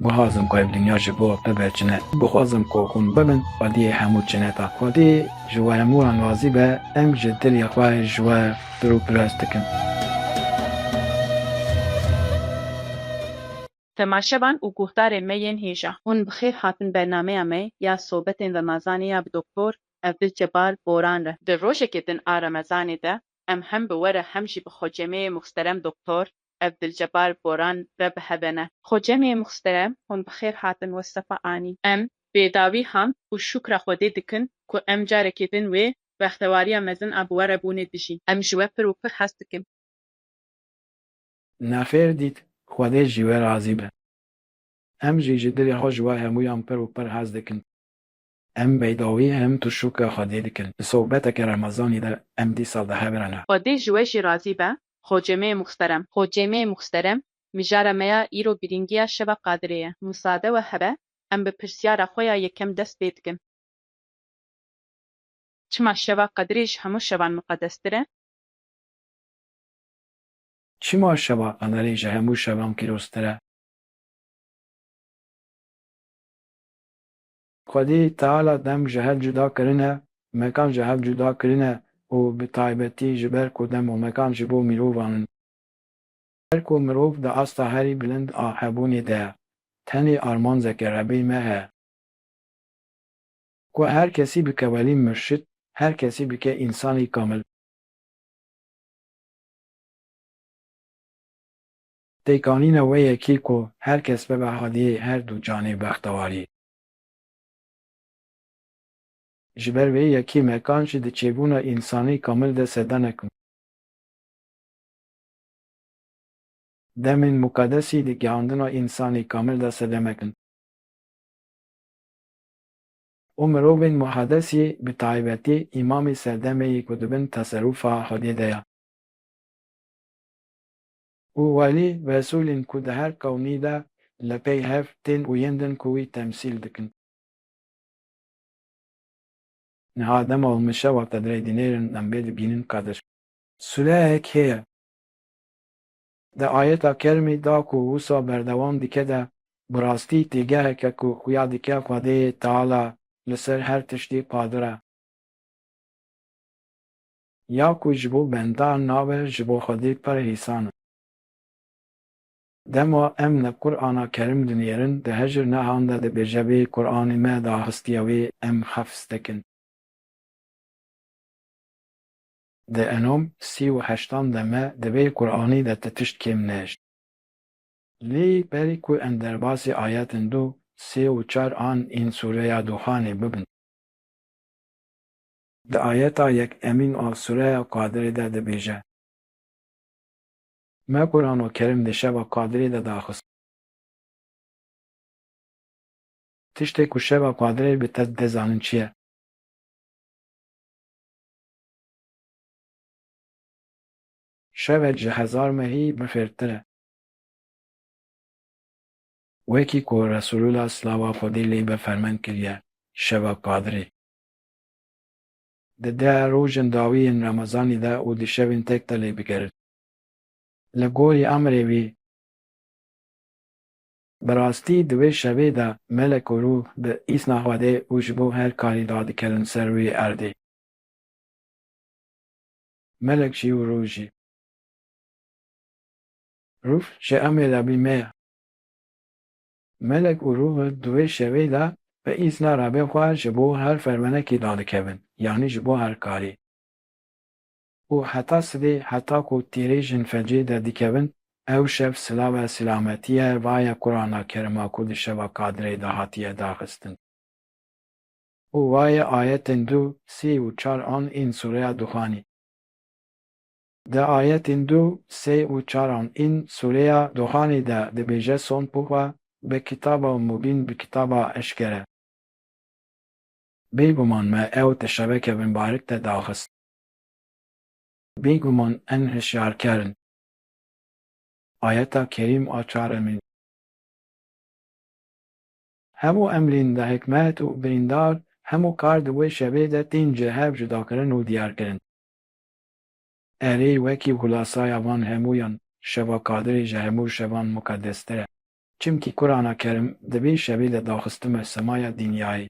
Guhazim ku ev dinya ji bo bibe çine. Guhazim ku hûn bibin xwediyê hemû çineta. Xwedî ji we hemû wan razî be, em ji dilê xwe ji we pir û pirs dikin. Temaşevan û guhdarên me yên hêja. Hûn bi xêr hatin bernameya me ya sobetên remezanê ya bi Doktor Evdilcebbar Boran re. Di rojekê din a remezanê de em hem bi we re hem jî bi xocemeyê muxsterem Doktor. ev Dilcebar Boran re bi hebe ne. Xo cemê muxsterem hûn bi xêr hatin we sefa anî. Em bê dawî hamd û şûkra Xwedê dikin ku em carekê din wê bextewariya mezin a bi we re bûnê dijîn. Em ji we pir û pir hez dikin. Ne xêr dît, Xwedê ji we razî be. Em jî ji dilê xwe ji we hemûyan pir û pir hez dikin. Em beydawî em tu şûka Xwedê dikin. Di sobeteke Remezanî de em dîsal di hev re ne. Xwedê ji we jî razî be Xocemê Muxterem. Xocemê Muxterem, Mijara me ya îro girîngiya Şeva Qadirê ye. Musade we hebe em bi pirsyara xwe ya yekem dest pê dikin. Çima Şeva Qadirê ji hemû şevan miqedestir e? Çima Şeva Qadirê ji hemû şevan pîroztir e? Xwedî Teala dem ji hev cuda kirine, mekan ji hev cuda kirine û bi taybetî ji ber ku dem û mekan ji bo mirovan in. Ji ber ku mirov di asta herî bilind a hebûnê de ye, tenê arman zeke Rebî me heye. Ku her kesî bike welî murşid, her kesî bike însanî kamil. Pêkanîna wê yekî ku her kes bibe hadiyê her du canê bextewarî. Ji ber wê yekî mekan jî di çêbûna însanî kamil de sedanek bû. Demên muqedesî di gihandina însanî kamil de sedemek in. Û mirovên muhedesî bi taybetî îmamê serdemê yê ku dibin teserûfa hadiyê de ya. Û welî vesolîn ku di her qewmî de li pey hev tên û yên din ku wî temsîl dikin. Niha dema û min şewa te dirê dinêrin em bê dibînin Kadir. Suleyek heye. Di ayeta kermî da ku wisa berdewam dike de bi rastî têgeheke ku xuya dike Xwedêyê Teala li ser her tiştî qadir e. Ya ku ji bo bendar nabe ji bo Xwedê pir hîsan in. Dema em li Qur'ana Kerim dinêrin di hejir nehan de dibêje vê Qur'anê me da histiya wê em hefz dikin. Di enom sî û heştan de me di vê Qur'anî de ti tişt kêm nehişt. Lê berî ku em derbasî ayetên du, sê û çar an ên sûreya Duxanê bibin. Di ayeta yek Emîn a Sureya Kadirê de dibêje. Me Quran û Kerim di şeva Kadirê de daxist. Tiştê ku şeva Kadirê bi te dide zanin çi ye? Şevek ji hezar mehî bi xêrtir e. Wekî ku Resulullah silava Xwedê lê be fermend kiriye, şeva Kadirê. Di de rojên dawî yên remezanî de û di şevên tek de lê bigerin. Li gorî emrê wî, bi rastî di wê şevê de melek û rûh bi îsna Xwedê û ji bo her karî dadikerin ser wî erdê. Melek jî û rûh jî. Rûh ji emrê Rebî me ye. Melek û Rûhûl di wê şevê de bi îzna Rabê xwe ji bo her fermenekî dadikevin yanî ji bo her karî. Û heta sibê heta ku tîrê jin fecê derdikevin ew şev silave silametiye va ye Qurana Kerima ku di şeva Kadirê de hatiye daxistin. Û va ye ayetên du, sê û çar an ên sûreya Duxanî. Di ayetên du, sê û çaran ên sûreya Duhanê de dibêje Son Puha be kitaba mubîn bi kitaba eşkere. Bêguman me ew di şeveke binbarik de daxist. Bêguman em hişyarker in. Ayeta kerîm a çaremîn. Hemû emrên bi hikmet û birîndar hemû kar di wê şevê de tên ji hev cudakirin û diyarkirin. Erê, wekî xulasaya van hemûyan, şeva Kadirê ji hemû şevan muqeddestir e. Çimkî Kurana Kerim di vê şevê de daxistime semaya dinyayê.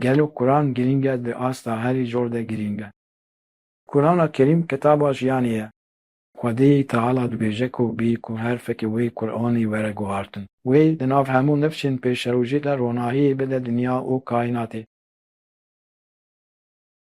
Gelo Kuran girîng e? Di asta herî zor de girîng e. Kurana Kerîm kitaba jiyanê ye. Xwedê Teala dibêje ku bî ku herfekê wê Kuranê were guhartin. Wê di nav hemû nifşên pêşerojê de ronahiyê bide dinya û kaînatê.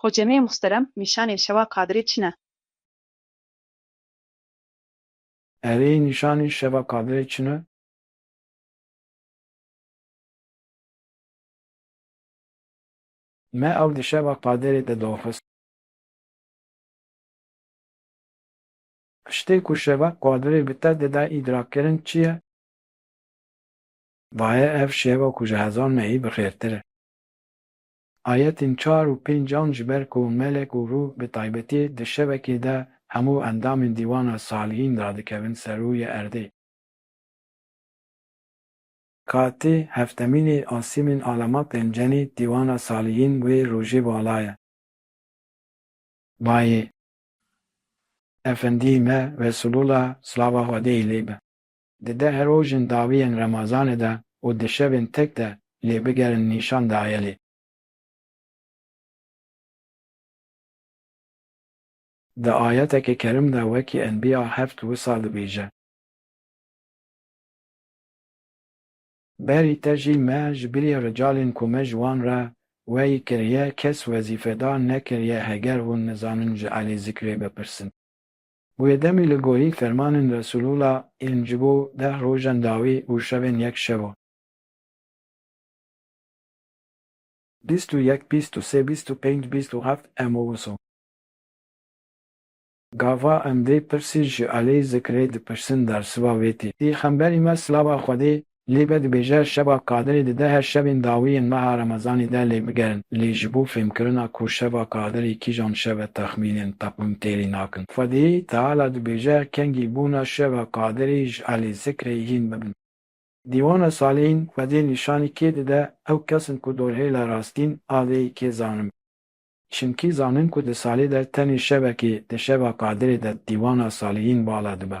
Xo cemê muhterem nîşanê şewa Qadirê çi ne? Erê nîşanê şeva Qadirê çi ne? Me ew di şeva Qadirê de daxist. Tiştê ku şeva Qadirê bi te dide îdrakkirin çi ye? Daye ev şeva ku ji hezar mehî bi xêrtir e. Ayetên çar û pênc an ji ber ku melek û rûh bi taybetî di şevekê de hemû endamên dîwana salihîn radikevin ser rûyê erdê. Katî heftemînê asîmên alama pênceni dîwana salihîn wê rojê bala ye. Bayê Efendî me Resûlûla silava Xwedê lê be. Di deh rojên dawî yên Remazanê de û di şevên tek de lê bigerin nîşan daye lê. Di ayetekî kerim de wekî Enbîya heft wisa dibêje. Berî te jî me ji birî ricalên ku me ji wan re weyî kiriye kes wezîfedar nekiriye heger hûn nizanin ji Elî Zikrê bipirsin. Wê demê li gorî fermanên Resûlûla yên ji bo deh rojan dawî û şevên yek şevan. Bîst û yek, bîst û sê, bîst û pênc, bîst û heft em û wisa. Gava em dê pirsî ji Aleyh Zikrê dipirsin dersiva wê tê. Pîxemberî me silava Xwedê Lê me dibêje şeva Kadirê dide her şevên dawî yên meha Remezanê de lê bigerin. Lê ji bo fêmkirina ku şeva Kadirê kîjan şev e texmînên teqwîm têrî nakin. Xwedî Teala dibêje kengî bûna şeva Kadirê ji Elê Zikrê hîn bibin. Dîwana Salihîn Xwedî nîşanî kê dide ew kes in ku dorhêla rastîn a vê yê kê zanin. Çimkî zanin ku di salê de tenê şevekê di şeva Kadirê de dîwana Salihîn bala dibe.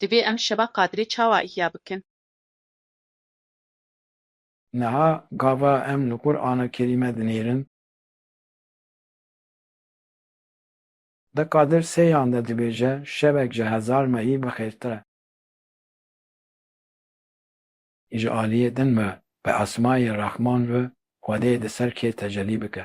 Divê em şeva Qadirê çawa îhya bikin? Niha gava em li Qur'ana Kerîme dinêrin. De Qadir seyan de dibêje şevek ji hezar mehî bixêrtir e. Ji aliyê din ve bi esmayê Rehman ve Xwedê di ser kê tecelî bike.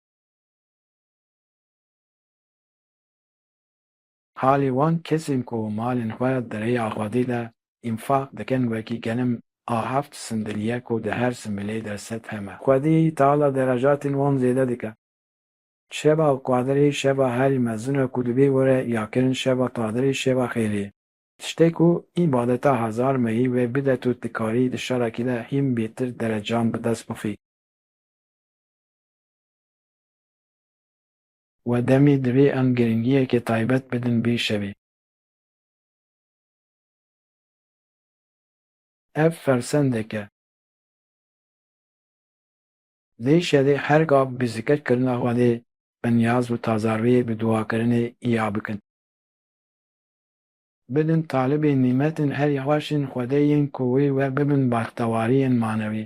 Halê wan kesên ku malên xwe di rêya Xwedê de înfaq dikin wekî genim a heft sindil ye ku di her similê de sed heme. Xwedê tala derejatên wan zêde dike. Şeva Qadirê şeva herî mezin e ku divê were ya kirin şeva Qadirê şeva xêrê ye. Tiştê ku îbadeta hezar meyî wê bide tu dikarî di şerekî de hîn bêtir derecan bi dest bixî. We demî divê em giringiyekê taybet bidin vê şevê. Ev fersendek e. Vê şevê her gav bi zikir kirina Xwedê bi niyaz û tazarwiyê bi duakirinê îya bikin. Bidin talibê nîmetên herî xweş ên Xwedê yên ku wê we bibin baxtewariyên manewî.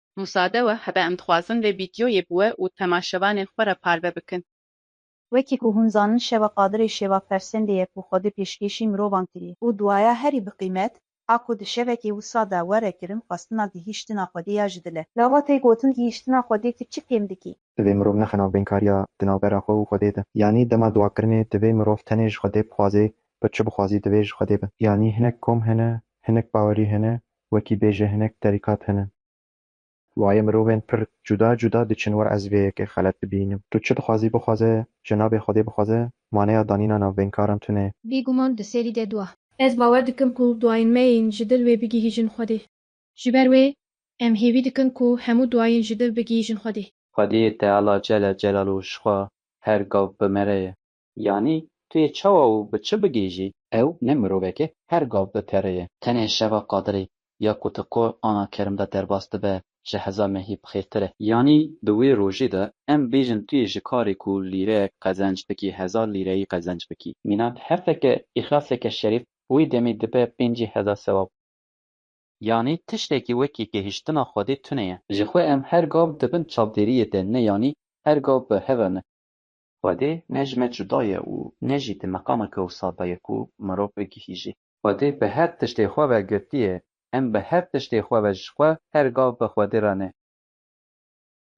Musade we hebe em dixwazin vê vîdyoyê bi we û temaşevanên xwe re parve bikin. Wekî ku hûn zanin şeva Qadirê şeva fersendê ye ku Xwedê pêşkêşî mirovan kiriye. Û duaya herî bi qîmet a ku di şevekê wisa de were kirin xwestina gihîştina Xwedê ya ji dil e. Lava tê gotin gihîştina Xwedê tu çi kêm dikî? Divê mirov nexe navbênkariya di navbera xwe û Xwedê de. Yanî dema duakirinê divê mirov tenê ji Xwedê bixwazê, bi çi bixwazî divê ji Xwedê be. Yanî hinek kom hene, hinek bawerî hene wekî bêje hinek terîkat hene. Wayê mirovên pir cuda cuda diçin wir ez vê yekê xelet dibînim. Tu çi dixwazî bixwaze, cenabê Xwedê bixwaze, maneya danîna navbênkaran tune. Bî guman di serî de dua. Ez bawer dikim ku duayên me yên ji dil wê bigihîjin Xwedê. Ji ber wê em hêvî dikin ku hemû duayên ji dil bigihîjin Xwedê. Xwedê Teala Celle Celaluhu ji xwe her gav bimere ye. Yanî tu yê çawa û bi çi bigihîjî? Ew ne miroveke her gav di terê ye. Tenê şeva Qadirî ya ku ti qo ana kerim de derbas dibe ji heza mehî bi xêrtir e. Yanî di wê rojê de em bêjin tu yê ji karê ku lîreyek qezenc bikî hezar lîreyî qezenc bikî. Mîna di hefteke îxlaseke şerîf wî demî dibe pêncî heza sewab. Yanî tiştekî wekî gihîştina Xwedê tune ye. Ji xwe em her gav di bin çavdêriyê de ne yanî her gav bi hev e ne. Xwedê ne ji me cuda ye û ne jî di meqama kewsa de ye ku mirov bigihîjê. Xwedê bi her tiştê xwe ve girtiye. Em bi her tiştê xwe ve ji xwe her gav bi Xwedê re ne.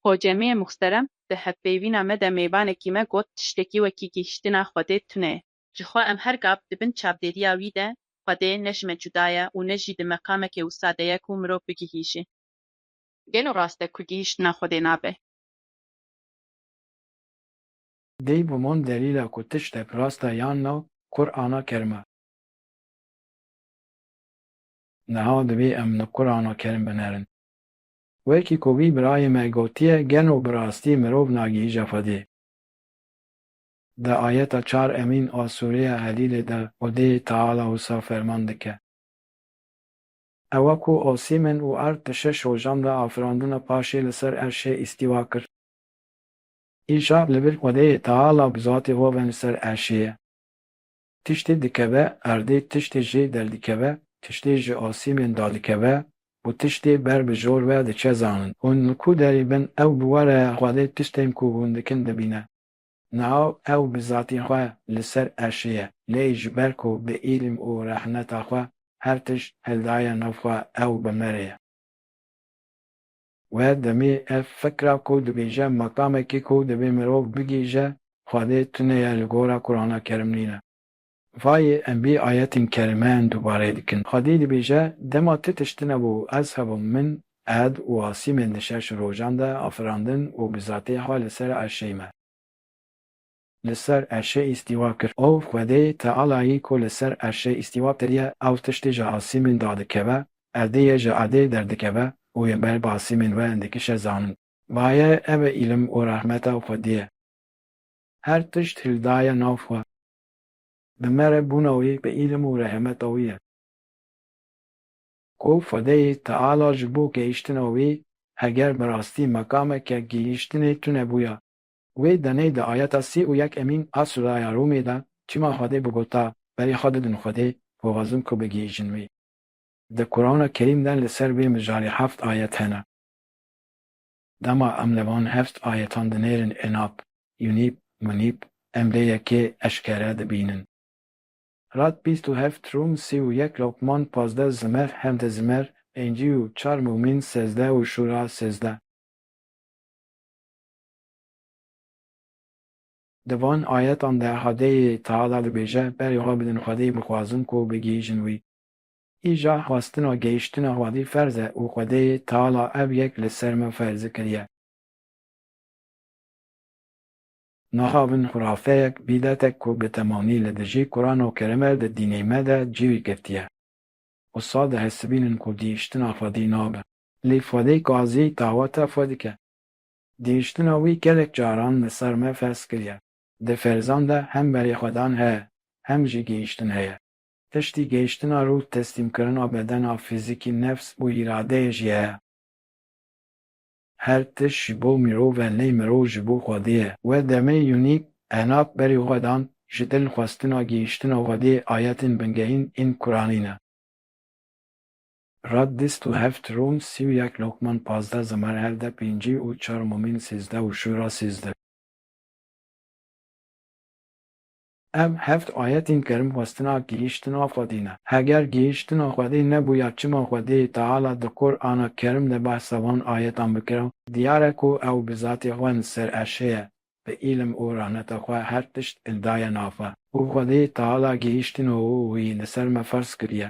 Xocemiyê muxterem di hevpeyvîna me de mêvanekî me got tiştekî wekî gihîştina Xwedê tune ye. Ji xwe em her gav di bin çavdêriya wî de Xwedê ne ji me cuda ye û ne jî di meqame kewsa de ye ku mirov bigihîjê. Gelo rast e ku gihîştina Xwedê nabe? Dey bi man delîla ku tiştek rast e yan na, kur ana kerim e. Niha divê em li kur ana kerim binerin. Wekî ku vî birayê me gotiye gelo bi rastî mirov nagihîje Xwedê? Di ayeta çar emîn a sûreya Helîlê de Xwedê Teala wisa ferman dike. Ewa ku asîmin û erd di şeş rojan de afirandina paşê li ser erşê îstîwa kir. Îşa li vir xwedeyê teala bi zatê xwe ve li ser erşê ye. Tiştê dikeve erdê, tiştê jê derdikeve, tiştê ji asîmên dadikeve û tiştê ber bi jor ve diçe zanin. Hûn li ku derê bin ew bi we re xwedê tiştên ku hûn dikin dibîne. Niha ew bi zatê xwe li ser erşê ye, lê ji ber ku bi îlm û rehneta xwe her tişt hildaye nav xwe ew bi me re ye. We demê ev fikra ku dibêje makamekî ku divê mirov bigihîje Xwedê tune ye li gora Kurana Kerim nîne. Vayê em bî ayetên kerimen dubare dikin. Xwedî dibêje, Dema ti tişt tune bû ez hebûm, min, ed, û Asîmên di şeş rojan de afirandin û bi zatê xwe li ser erşey me. li ser erşê îstîwa kir. Ew xwedê Tealayî ku li ser erşê îstîwa kiriye, ew tiştî ji asîmên dadikeve, erdê yê ji erdê derdikeve û yên ber bi asîmên we dikişe zanin. Vaye ev e îlim û rehmeta xwedî ye. Her tişt hildaye nav xwe. Bi me re bûna wî bi îlim û rehemeta wî ye. Ku xwedeyê Teala ji bo gehîştina wî, heger bi rastî mekameke gihîştinê tune bûya, Wê demê di ayeta sî û yek emîn a suraya Rûmê de çima Xwedê bigota, Berê xwe didin Xwedê, bixwazin ku bigihîjin wî. Di Qurana Kerîm de li ser vê mijarê heft ayet hene. Dema em li van heft ayetan dinêrin Enab, Yunîb, Munîb, em vê yekê eşkere dibînin. Rad bîst û heft, Rûm sî û yek, Luqman pazdeh, Zimer hevdeh, Zimer pêncî û çar, Mûmîn sezdeh û Şûra sezdeh. Di van ayetan de Xwedê Teala dibêje, Berê xwe bidin Xwedê bixwazin ku bigihîjin wî. Îja xwestina gehîştina Xwedî ferz e û Xwedê Teala ev yek li ser me ferzi kiriye. Naxabin xurafeyek, bîdetek ku bi temanî li dijî Kurano Kerime di dînê me de cîwî girtiye. Wisa dihesibînin ku gihîştina Xwedî nabe. Lê Xwedê Gazî daweta xwe dike. Gihîştina wî gelek caran li ser me ferz kiriye. Di ferzan de hem berîxwedan heye, hem jî gihîştin heye. Piştî gihîştina rûh teslîmkirina bedena fîzîkî nefs û îradeyê jî heye. Her tişt ji bo mirov e lê mirov ji bo Xwedê ye. Wê demê Yûnîk, Enat, berîxwedan, ji dil xwestina gihîştina Xwedê ayetên bingehîn ên Kuranî ne. Rad dîst û heft rûm sî û yek lokman pazdeh zimar hevdeh pêncî û çar mumîn sîzdeh û şûra sîzdeh. Ev heft ayetên kerim xwestina gihîştina Xwedê ne. Heger gihîştina Xwedê nebûya çima Xwedê Teala di Qur ana Kerim de behsa van ayetan bikira, diyar e ku ew bi zatê xwe in ser eşê ye, bi îlim û rahneta xwe her tişt in daye nava û Xwedê Teala gihîştino wî li ser me ferz kiriye.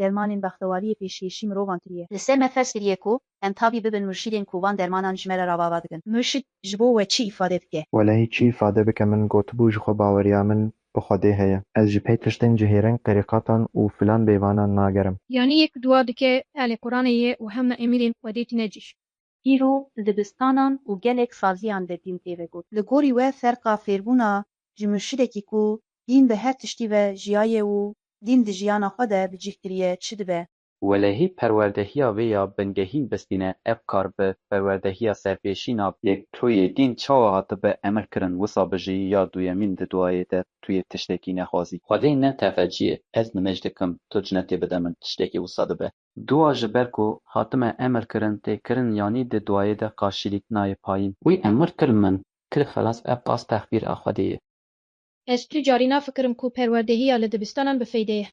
Dermanên bextewariyê pêşkêşî mirovan kiriye. Li ser me ferz kiriye ku em tabî bibin murşîdên ku van dermanan ji me re ravava dikin. Murşîd ji bo we çi îfade dike? Welehî çi îfade bike min gotibû ji xwe baweriya min bi Xwedê heye. Ez ji pê tiştên ji hêreng terîqatan û filan bêvanan nagerim. Yanî yek dua dike Elê Quranê yê û hew na emirên Xwedê tîne cîh. Îro dibistanan û gelek saziyan de dîn tê vegot. Li gorî we ferqa fêrbûna ji murşidekî ku dîn bi her tiştî ve jiyaye û dîn di jiyana xwe de bi cih kiriye çi dibe? Welehî perwerdehiya vê ya bingehîn bistîne ev kar bi perwerdehiya serpêşî nabe. Yek tu yê dîn çawa hatibe emir kirin wisa bijî ya duyemîn di duayê de tu yê tiştekî nexwazî. Xwedê ne tefe cî yê ez nimêj dikim tu cinetê bide min tiştekî wisa dibe. Dua ji ber ku hatime emir kirin tê kirin yanî di duayê de qarşîlîk nayê payîn. Wî emir kir min Kir xelas ev qas texbîr a Xwedê ye. Ez tu carî nafikirim ku perwerdehiya li dibistanan bi feyde ye.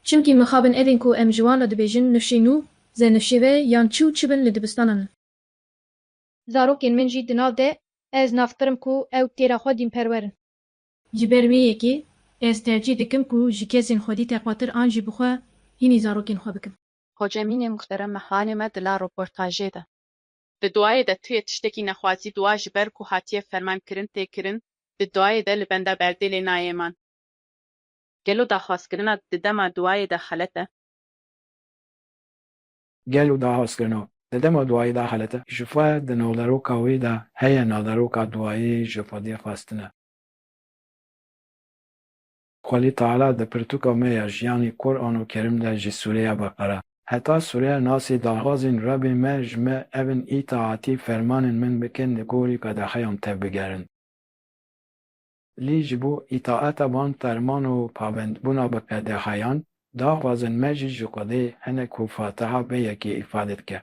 Çimkî mixabin evên ku em ji wan re dibêjin nifşê nû, zenifşêve yan çi û çi bin li dibistanan in. Zarokên min jî di nav de ez nafikirim ku ew têra xwe dînperwer in. Ji ber vê yekê ez tercîh dikim ku ji kesên xwedî teqwatir an jî bi xwe hînî zarokên xwe bikim. Hocemînê muhterem mehranê me di la roportajê de. Di duayê de tuyê tiştekî nexwazî dua ji ber ku hatiye ferman kirin tê kirin, di duayê de li benda berdê lê nayê man. Gelo daxwazkirina di dema duayê de xelet e? Gelo daxwazkirina di dema duayê de xelet e? Ji xwe di navderoka wê de heye navderoka duayê ji xwedê xwestin e. Xwelî Teala di pirtûka me ya jiyanê Kur'an û Kerîm de ji sûreya Beqere heta sûreya Nasê daxwazên Rebê me ji me ebin îtaatî fermanên min bikin li gorî qedexeyan tevbigerin. Lê ji bo îtaata van ferman û pabendbûna bi qedexeyan daxwazin me jî ji Xwedê hinek ku Fatiha be yekê îfade dike.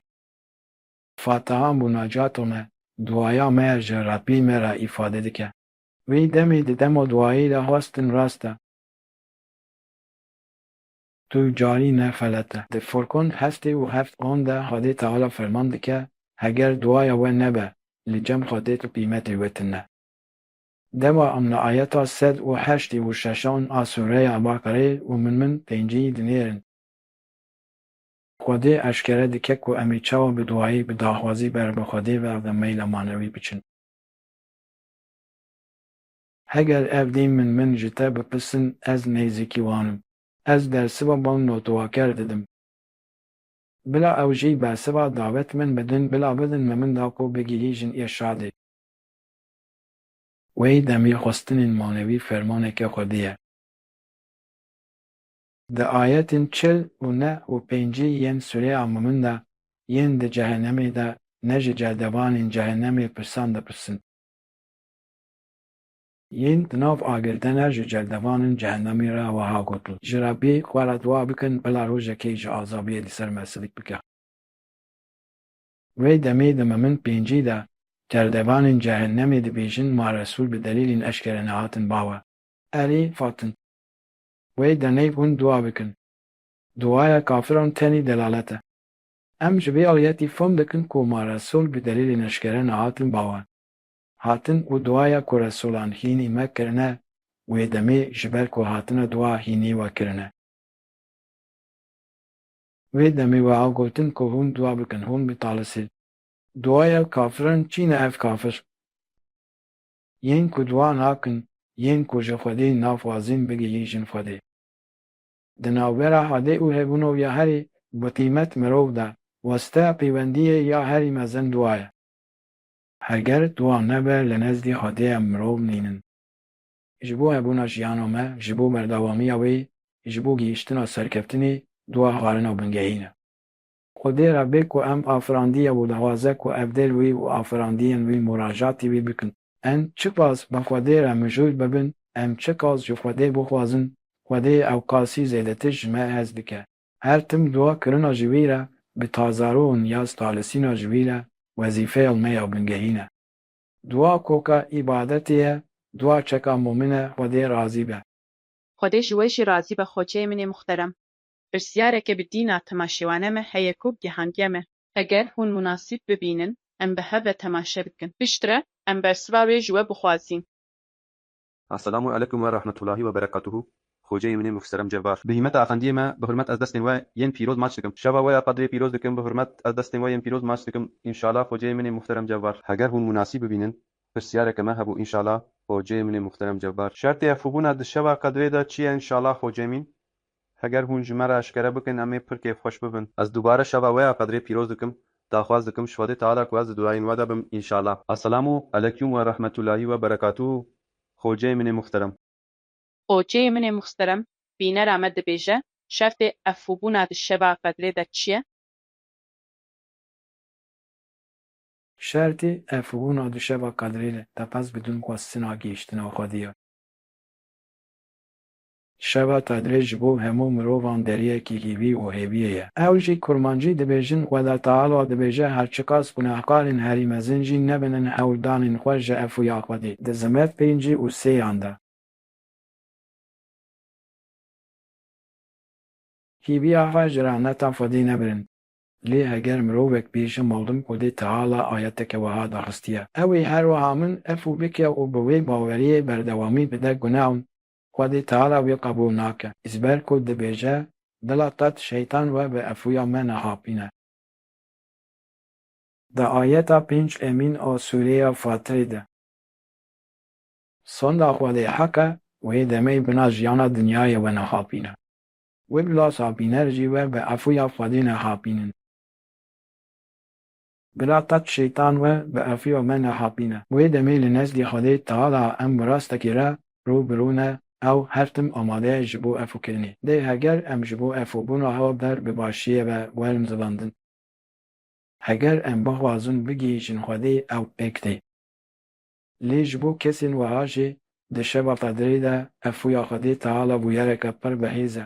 Fatiha mûnacata me, duaya me ya ji Rebî me re îfade dike. Wî demê di demo duayî de xwestin rast e. Tu carî ne xelet e. Di Furkun heftê û heft on de Xwedê Teala ferman dike, Heger duaya we nebe, li cem xwe dê tu qîmetê we tune. Dewa em li ayeta sed û heştî û şeşan a sûreya Ebaqereyê û min min pêncî dinêrin. Xwedê eşkere dike ku em ê çawa bi duayî, bi daxwazî ber bi Xwedê ve ve meyla manewî biçin. Heger ev dîn min min ji te bipisin ez nêzîkî wan im. Ez dersiva bal notuwaker didim. Bila ew jî bersiva davet min bidin bila bidin me min da ku bigihî jin îrşadê. Wey demî xwestinên manewî fermaneke xwedî ye. Di ayetên çil û neh û pêncî yên sûreya Mûmin de yên di cehenemê de ne ji cerdevanên cehenemê pirsan dipirsin. Yên di nav agir de ne ji cerdevanên cehenemê re wiha gotin, Ji Rebbê xwe re dua bikin bila rojekê ji azabiyê li ser me silik bike. Wê demê di Mûmin pêncî de cerdevanên cehenemê dibêjin ma Resûl bi delîlên eşkere nehatin bawe. Erê fatin. Wey deneyv hûn dua bikin. Duaya kafiran tenî delalet e. Em ji vê ayetî fam dikin ku ma resul bi delîlên eşkere nehatin bawer. Hatin û duaya ku resulan hînî me kirine wê demê ji ber ku hatine dua hînî we kirine. Wê demê wiha gotin ku hûn dua bikin, hûn bitalisî. Duaya kafiran çîn e ev kafir. Yên ku duwa nakin yên ku ji Xwedê naxwazin bigihîjin Xwedê. Di navbera hadê û hebûno ya herî biqîmet mirov de weste pêwendiyê ya herî mezin duwa ye. Heger duwa nebe li nezdî hadê em mirov nînin. Ji bo hebûna jiyana me, ji bo berdewamiya wê, ji bo gihîştina serkeftinê duwa xwarina bingehîn e. Xwedê re bê ku em afirandiya wî dawaze ku evdêl wî û afirandiyên wî muracatî wî bikin. Em çi qas bi Xwedê re mijûl bibin, em çi qas ji Xwedê bixwazin, Xwedê ew qasî zêdetir ji me hez bike. Her tim dua kirina ji wî re bi tazaro û niyaz talisîna ji wî re wezîfeya me ya bingehîn e. Dua koka îbadetê ye, dua çeka mûmin e Xwedê razî be. Xwedê ji we jî razî be xoçeyê min ê muxterem. Pirsiyareke bi dîna temaşewane me heye ku gihandiye me. Heger hûn munasîb bibînin em bi hev ve temaşe bikin. Piştre em bersiva wê ji we bixwazîn. Esselamu alekum we rahmetulahi we berekatuhu Xoceyê min ê muhserem Cebar. Bi hîmeta efendiyê me bi hurmet ez destên we yên pîroz maç dikim. Şeva we ya qedrê pîroz dikim bi hurmet ez destên we yên pîroz maç dikim înşala Xoceyê min ê muhterem Cebar. Heger hûn munasîb bibînin pirsiyareke me hebû înşala Xoceyê min ê muhterem Cebar. Şertê hevxwebûna di şeva qedrê de çi ye înşala Xoceyê min? Heger hûn ji me re eşkere bikin em ê pirkê xweş bibin. Ez dubare şeva we ya Qedirê pîroz dikim. Daxwaz dikim ji Xwedê Teala ku ez di duayên we de bim înşala. Eselamu Elekum we Rahmetulahî we Berekatuhu Xoceyê min ê Muxterem. Xoceyê min ê Muxterem bînera me dibêje şertê efûbûna di şeva Qedirê de çi ye? Şertê efûbûna di şeva Qedirê de teqez bidin ku ez sina gihiştina Xwedî ya. Şeva tadrê ji bo hemû mirovan deriyekî hîvî û hêviyê ye. Ew jî kurmancî dibêjin, Xweda Teala dibêje her çiqas gunehkarên herî mezin jî nebinin hewldanên xwe ji efuya Xwedê, di zimet pêncî û sêyan de. Hîviya xwe ji rehmeta Xwedê nebirin. Lê heger mirovek bê ji malum Xwedê Teala ayeteke weha daxistiye, ew ê her weha min efû bike û bi wê baweriyê berdewamî bide gunewn, Xwedî Teala wî qebûl nake, ji ber ku dibêje, Dila te ti şeytan we bi efuya me nehapîne. Di ayeta pênc emîn a sûreya Fatirê de. Sonda Xwedê heq e û hê demeyî bina jiyana dinyayê we nehapîne. Wê bila sapîner jî we bi efuya Xwedê nehapînin. Bila qet şeytan we bi efiyo me nehapîne. Wê demê li nezdî Xwedê Teala em bi rastekî re rû bi rû ne, ew her tim amade ye ji bo efokirinê. Lê heger em ji bo efobûna hewa ber bi başiyê ve werin zilandin, heger em bixwazin bigihîjin Xwedê ew pêk tê. Lê ji bo kesên weha jî di şeva qedirê de efoya Xwedê Teala bûyereke pir bi hêz e.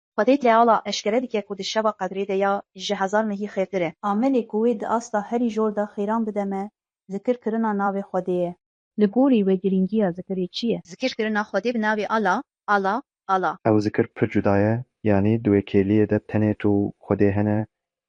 Xwedê Teala eşkere dike ku di şeva qedrê de ya ji hezar mehî xêrtir e. Amelê ku wê di asta herî jor de xêran bide me, zikir kirina navê Xwedê ye. Li gorî we girîngiya zikirê çi ye? Zikir kirina Xwedê bi navê Ala, Allah, Allah. Ew zikir pir cuda ye, yanî di wê kêliyê de tenê tu û Xwedê hene,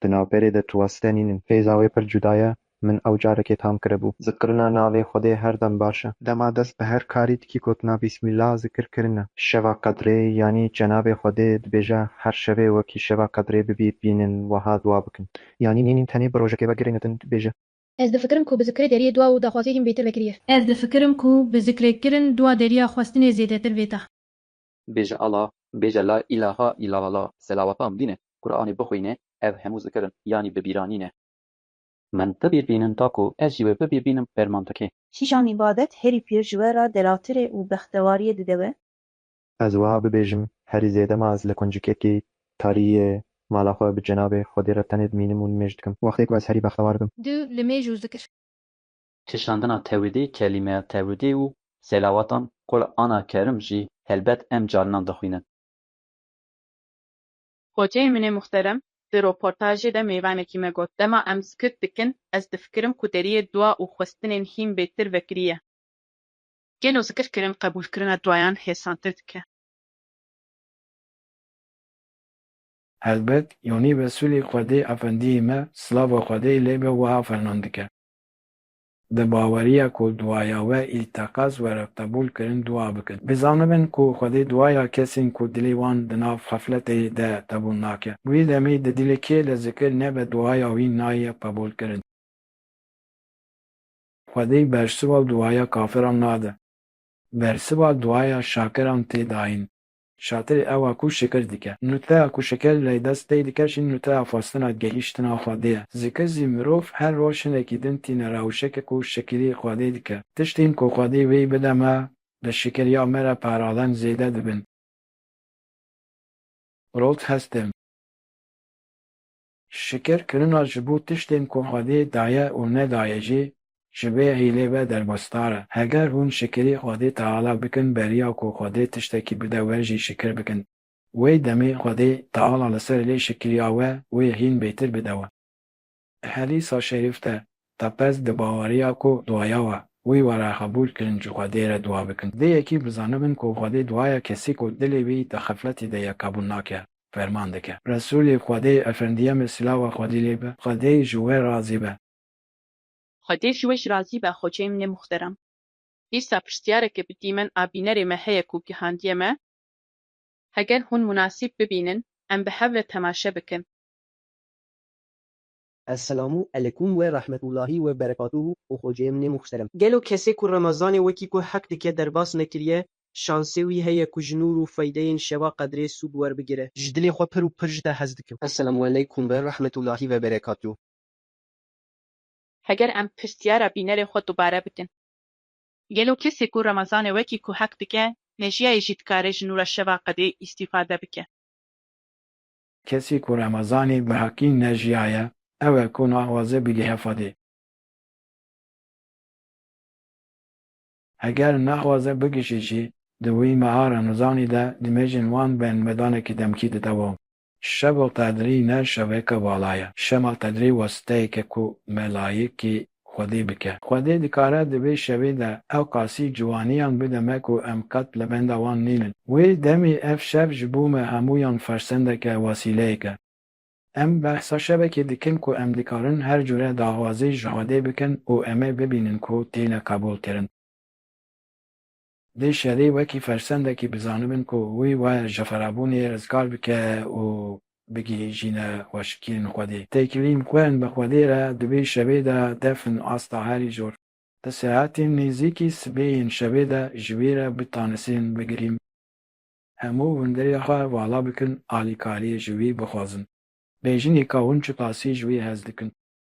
Di navberê de tu wan site nînin. Hêza wê pir cuda ye. Min ew carekê tam kiribû. Zikirina navê Xwedê her dem baş e. Dema dest bi her karî dikî gotina Bîsmîllah zikir kirin e. Şeva Qedrê yanî Cenabê Xwedê dibêje her şevê wekî Şeva Qedrê bibî bînin weha dua bikin. Yanî nînin tenê bi rojekê ve girê nedin dibêje. Ez difikirim ku bi zikirê deriyê dua û daxwaziyê hîn bêtir vekirî ye. Ez difikirim ku bi zikrê kirin dua deriya xwestinê zêdetir vêta. Bêje ala, bêje la îlaha îlalala, selawatan bîne, Quranê bixwîne, ev hemû zikir in, yanî bibîranîn e. Min ti bîr bînin ta ku ez jî wê bibîr bînim ferman dike. Kîjan îbadet herî pîr ji we ra delatir e û bextewariyê dide we? Ez wiha bibêjim, herî zêde ma ez li kuncikekî tarîyê mala xwe bi cenabê Xwedê re tenê dimînim û nimêj dikim, wextê ku ez herî bextewar bim. Du, li mêj û zikir. Kişandina tewidê, kelîmeya tewidê û selawatan Kur ana Kerim jî helbet em carinan dixwînin. Xoceyê min ê muxterem di roportajê de mêvanekî me got, dema em skit dikin ez difikirim ku deriyê dua û xwestinên hîn bêtir vekiriye. Gelo zikir kirin qebûlkirina duayan hêsantir dike? Helbet Yonî Resûlî Xwedê Efendiyê me, silava Xwedê lê be wiha ferman dike, Di baweriya ku duaya we ê teqez were qebûl kirin dua bikin. Bizanibin ku Xwedê duaya kesên ku dilê wan di nav xefletê de qebûl nake. Wê demê di dilê kê li zikir nebe duaya wî nayê qebûl kirin. Xwedê bersiva duaya kafiran nade. Bersiva duaya şakiran tê dayîn. Şatirê ewa ku şikir dike. Nûteya ku şikir lê dest pê dike jî nûteya xwestina gehîştina Xwedê ye. Zikir zî mirov her roj hinekî din tîne rewşeke ku şikirî Xwedê dike. Tiştên ku Xwedê wî bide me, bi şikir ya me re paralen zêde dibin. Rot hestê me. Şikir kirina ji bo tiştên ku Xwedê daye û nedaye jî ji vê hîlê ve derbasdar e. Heger hûn şikirî Xwedê Teala bikin beriya ku Xwedê tiştekî bide we jî şikir bikin. Wê demê Xwedê Teala li ser lê şikiriya we wê hîn bêtir bide we. Helîsa şerîf de Tapez di baweriya ku duaya we, wî were qebûl kirin ji Xwedê re dua bikin. Dê yekî bizanibin ku Xwedê duaya kesî ku dilê wî di xefletê de ye qebûl nake, ferman dike. Resûlê Xwedê, Efendiyemê silava Xwedê lê be, Xwedê ji we razî be. Xwedê ji we jî razî be Xoçeyim nê muxterem. Dîsa pirsyareke bi dîmen a bînerê me heye ku gihandiye me, heger hûn munasîb bibînin em bi hev re temaşe bikin. Esselam û elekum we rahmetullahî we berekatuhu û xoceyê min ê muhterem. Gelo kesê ku Remezanê wekî ku heq dike derbas nekiriye, şansê wî heye ku ji nûr û feydeyên şeva qedrê sûd werbigire? Ji dilê xwe pir û pir ji te hez dikim. Esselam û elekum we rahmetullahî we berekatuhu. Heger em pirsyara bînerê xwe dubare bikin. Gelo kesê ku Remezanê wekî ku heq dike, mejiyayê jî dikare ji nûra şeva qedê îstîfade bike? Kesî ku Remezanî bi heqî nejiyaye, ew e ku naxwaze bî li Hefadê. Heger naxwaze bigihîşî jî, di wî meha Remezanî de nimêjên wan bên medanekî demkî dide wan. Şeva Qedrî ne şeveke vala ye. Şeva Qedrî wesiteyek e ku melayikî Xwedê bike. Xwedê dikare di vê şevê de ew qasî ciwaniyan bide me ku em qet li benda wan nînin. Wê demê ev şev ji bo me hemûyan fersendek e, wasîleyek e. Em behsa şevekê dikin ku em dikarin her cure daxwazî ji Xwedê bikin û em ê bibînin ku têne qebûlkirin. Dê şerî wekî fersendekî bizanibin ku wî waye ji xerabûnê rizgar bike û bigihîjîne xweşikiyên Xwedê. Têkilîn xwên bi Xwedê re dibî şevê de defin asta herî zor. Di saetên nêzîkî sibê yên şevê de ji wî re bi tanisên bigirîm. Hemû hundirê xwe vala bikin, alîkariyê ji wî bixwazin. Bêjinîka hûn çi tasî ji wî hez dikin.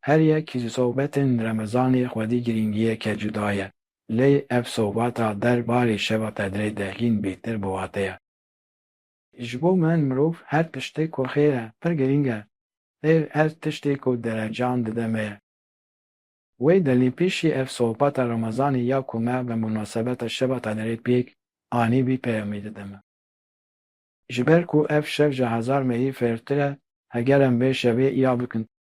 Her yek ji sobetên remezanê xwedî girîngiyeke cuda ye, lê ev sobata der barê şeva tedrê de hîn bêtir bi wate ye. Ji bo min mirov her tiştê ku xêr e pir girîng e, lê her tiştê ku derecan dide me ye. Wê delî pêşî ev sobata remezanê ya ku me bi munasebeta şeva tedrê pêk anî vî peyamê dide me. Ji ber ku ev şev ji hezar mehî fêrtir e, heger em vê şevê îya bikin,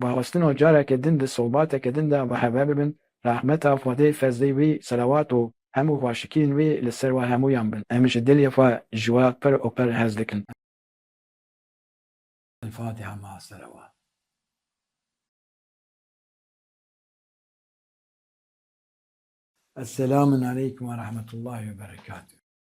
Parastina careke din di sobateke din de ve hev bibin, rehmeta Xwedê, fezlê wî, selewat û hemû xweşikiyên wî li ser we hemûyan bin. Em ji dilê xwe ji we pir û pir hez dikin. Elfatiha Ma Selewat. Esselamun Aleykum Werahmetullahi Weberekatuh.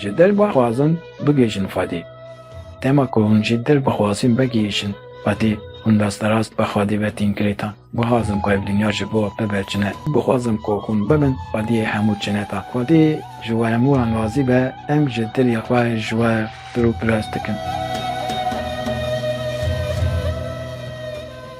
Ji derba xwazin bigihîjin Xwedê. Dema ku hûn ji derba xwazin vegihîjin Xwedê, hûn rasterast bi Xwedê ve tîn girêta. Bixwazim ku ev dinya ji bo bibe cine. Bixwazim ku hûn bibin Xwediyê hemû cineta. Xwedê ji we hemû an razî be, em ji dilê xwe ji we pir û pirs dikin.